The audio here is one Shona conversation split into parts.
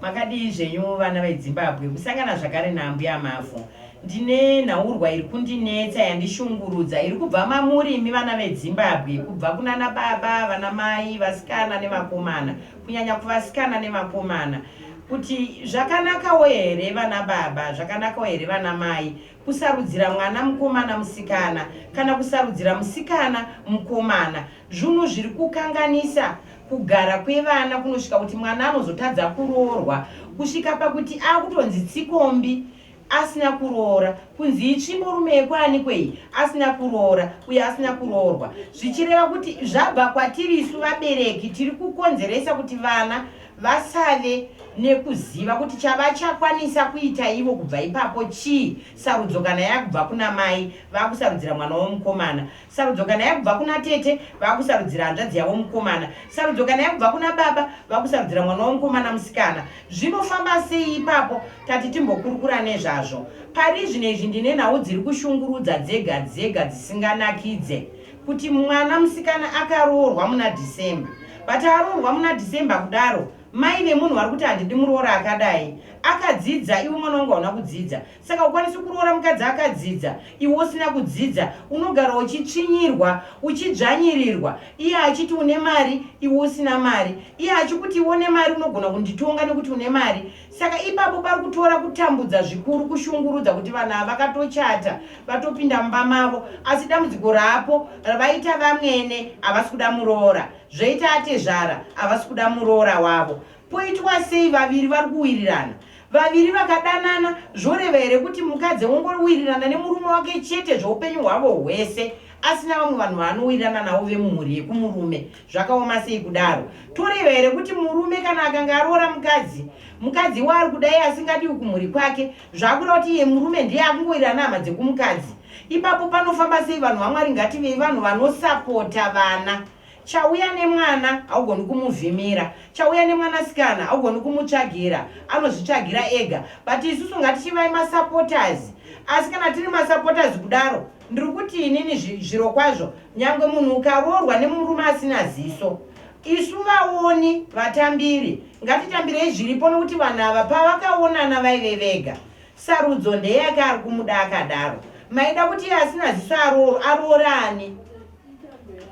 Makadii zvenyu vana veDzimbabwe? Kusangana zvakare naambuya Mavhu. Ndine nhaurwa iri kundinetsa yandishungurudza iri kubva mamuri imi vana veDzimbabwe, kubva kunana baba, vana mai, vasikana nevakomana, kunyanya kuvasikana nevakomana kuti zvakanakawo here vana baba, zvakanakawo here vana mai kusarudzira mwana mukomana musikana kana kusarudzira musikana mukomana. Zvunhu zviri kukanganisa Kugara kwevana kunosvika kuti mwana anozotadza kuroorwa kusvika pakuti akutonzi tsikombi asina kuroora kunzi itsvimbo rume yekwanikwe iyi asina kuroora uye asina kuroorwa zvichireva kuti zvabva kwatiri isu vabereki tiri kukonzeresa kuti vana vasave nekuziva kuti chavachakwanisa kuita ivo kubva ipapo chii sarudzo kana yakubva kuna mai vakusarudzira mwana womukomana Sarudzo kana yakubva kuna tete vakusarudzira hanzvadzi yavo mukomana. Sarudzo kana yakubva kuna baba vakusarudzira mwana wavo mukomana musikana. Zvinofamba sei ipapo? Tati timbokurukura nezvazvo. Parizvino izvi ndine nhau dziri kushungurudza dzega dzega dzisinganakidze. Kuti mwana musikana akaroorwa muna December. But aroorwa muna December kudaro mai vemunhu vari kuti handidi muroora akadai. Akadzidza iwe mwana wangu hauna kudzidza. Saka ukwanisi kuroora mukadzi akadzidza iwe usina kudzidza unogara uchitsvinyirwa uchidzvanyirirwa iye achiti une mari iwe usina mari iye achikuti iwe une mari unogona kunditonga nekuti une mari saka ipapo pari kutora kutambudza zvikuru kushungurudza kuti vanhu ava vakatochata vatopinda mumba mavo asi dambudziko raapo ravaita vamwene havasi kuda muroora zvoita atezvara havasi kuda muroora wavo poitwa sei vaviri vari kuwirirana Vaviri vakadanana zvoreva here kuti mukadzi ongowirirana nemurume wake chete zvoupenyu hwavo hwese asina vamwe vanhu vaanowirirana navo vemumhuri yekumurume? Zvakaoma sei kudaro? Toreva here kuti murume kana akanga aroora mukadzi, mukadzi waari kudai asingadiwi kumhuri kwake, zvakuda kuti iye murume ndiye akungowirirana hama dzekumukadzi? Ipapo panofamba sei vanhu vaMwari? Ngativei vanhu vanosapota vana. Chauya nemwana haugoni kumuvhimira, chauya nemwanasikana haugoni kumutsvagira, anozvitsvagira ega but isusu ngatichivai masupporters. Asi kana tiri masupporters kudaro ndiri kuti inini zviro kwazvo nyangwe munhu ukaroorwa nemurume asina ziso isu vaoni vatambiri ngatitambirei zviripo nokuti vanhu ava pavakaonana vaive vega sarudzo ndeyake ari kumuda akadaro maida kuti iye asina ziso arooro aroorani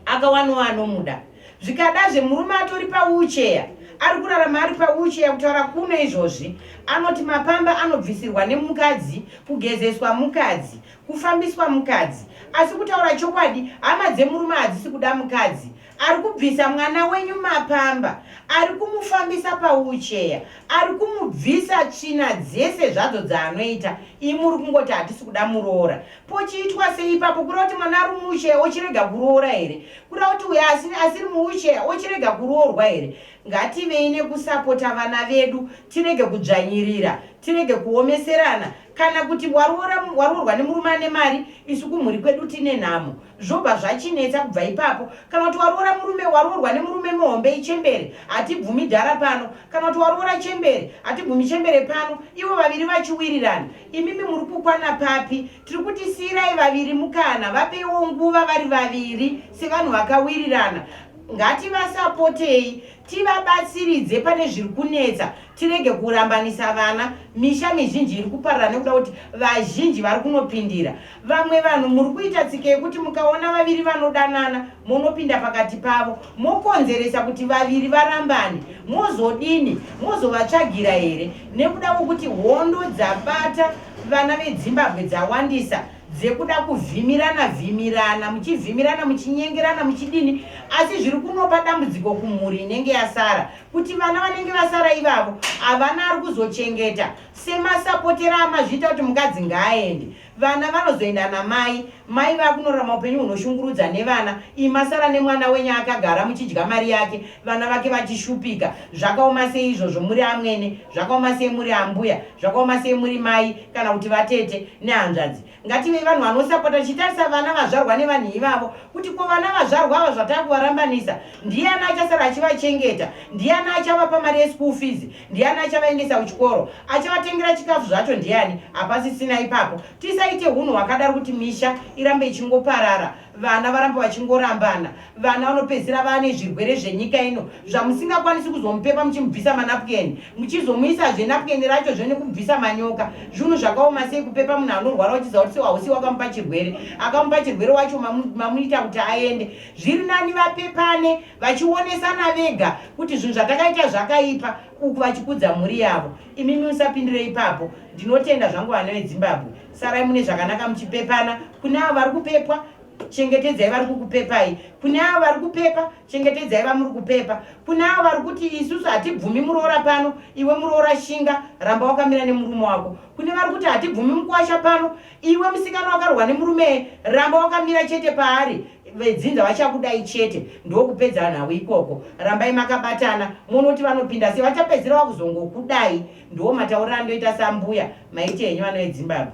akawanowa anomuda zvikadazve murume atori paucheya ari kurarama ari paucheya kutaura kuno izvozvi anoti mapamba anobvisirwa nemukadzi kugezeswa mukadzi kufambiswa mukadzi asi kutaura chokwadi hama dzemurume hadzisi kuda mukadzi ari kubvisa mwana wenyu mapamba ari kumufambisa paucheya ari kumubvisa tsvina dzese zvadzo dzaanoita imi uri kungoti hatisi kuda muroora Pochiitwa sei ipapo? Kuda kuti mwana ari muwheelchair ochirega kuroora here? Kuda kuti uyo asiri muwheelchair ochirega kuroorwa here? Ngativei nekusapota vana vedu, tirege kudzvanyirira, tirege kuomeserana. Kana kuti waroorwa nemurume ane mari, isu kumhuri kwedu tine nhamo. zvobva zvachinetsa kubva ipapo kana kuti waroora murume waroorwa nemurume muhombe ichembere hatibvumi dhara pano kana kuti waroora chembere hatibvumi chembere pano ivo vaviri vachiwirirana imimi muri kukwana papi tiri kuti siirai vaviri mukana vapeiwo nguva vari vaviri sevanhu vakawirirana ngativasapotei tivabatsiridze pane zviri kunetsa tirege kurambanisa vana misha mizhinji iri kuparara nekuda kuti vazhinji vari kunopindira Vamwe vanhu muri kuita tsika yekuti mukaona vaviri vanodanana monopinda pakati pavo mokonzeresa kuti vaviri varambane. Mozodini? Mozovatsvagira here? Nekuda kwekuti hondo dzabata vana vedzimbabwe dzawandisa dzekuda kuvhimirana vhimirana muchivhimirana muchinyengerana muchidini asi zviri kunopa dambudziko kumhuri inenge yasara kuti vana vanenge vasara ivavo havana ari kuzochengeta Semasapotera amazviita kuti mukadzi ngaaende. Vana vanozoenda namai. Mai vakunorarama upenyu hunoshungurudza nevana. Imi masara nemwana wenyu akagara muchidya mari yake vana vake vachishupika. Zvakaoma sei izvozvo muri amwene? Zvakaoma sei muri ambuya? Zvakaoma sei muri mai kana kuti vatete nehanzvadzi? Ngativei vanhu vanosapota tichitarisa vana vazvarwa nevanhu ivavo kuti ko vana vazvarwa ava zvatakuvarambanisa ndiyani achasara achivachengeta ndiyani achavapa mari yeschool fees ndiyani achavaendesa kuchikoro achavatengera chikafu zvacho ndiyani hapasisina ipapo tisaite hunhu hwakadaro kuti misha irambe ichingoparara vana varamba vachingorambana vana vanopedzisira vane zvirwere zvenyika ino zvamusingakwanisi kuzomupepa muchimubvisa manapukeni muchizomuisa zvenapukeni racho zvene kubvisa manyoka zvinhu zvakaoma sei kupepa munhu anorwara uchiziva kuti sewausi wakamupa chirwere akamupa chirwere wacho mamuita kuti aende zviri nani vapepane vachionesana vega kuti zvinhu zvatakaita zvakaipa uku vachikudza mhuri yavo imimi musapindire ipapo ndinotenda zvangu vana vedzimbabwe sarai mune zvakanaka muchipepana kune avo vari kupepwa chengetedzai vari kukupepai kune avo vari kupepa chengetedzai vamuri kupepa kune avo vari kuti isusu hatibvumi muroora pano iwe muroora shinga ramba wakamira nemurume wako kune vari kuti hatibvumi mukuwasha pano iwe musikana wakarohwa nemurume ramba wakamira chete paari vedzinza vachakudai chete ndokupedza nhau ikoko rambai makabatana monoti vanopinda se vachapedzira vakuzongokudai ndiwo mataurira andoita sambuya maiti henyu vanoedzimbabwe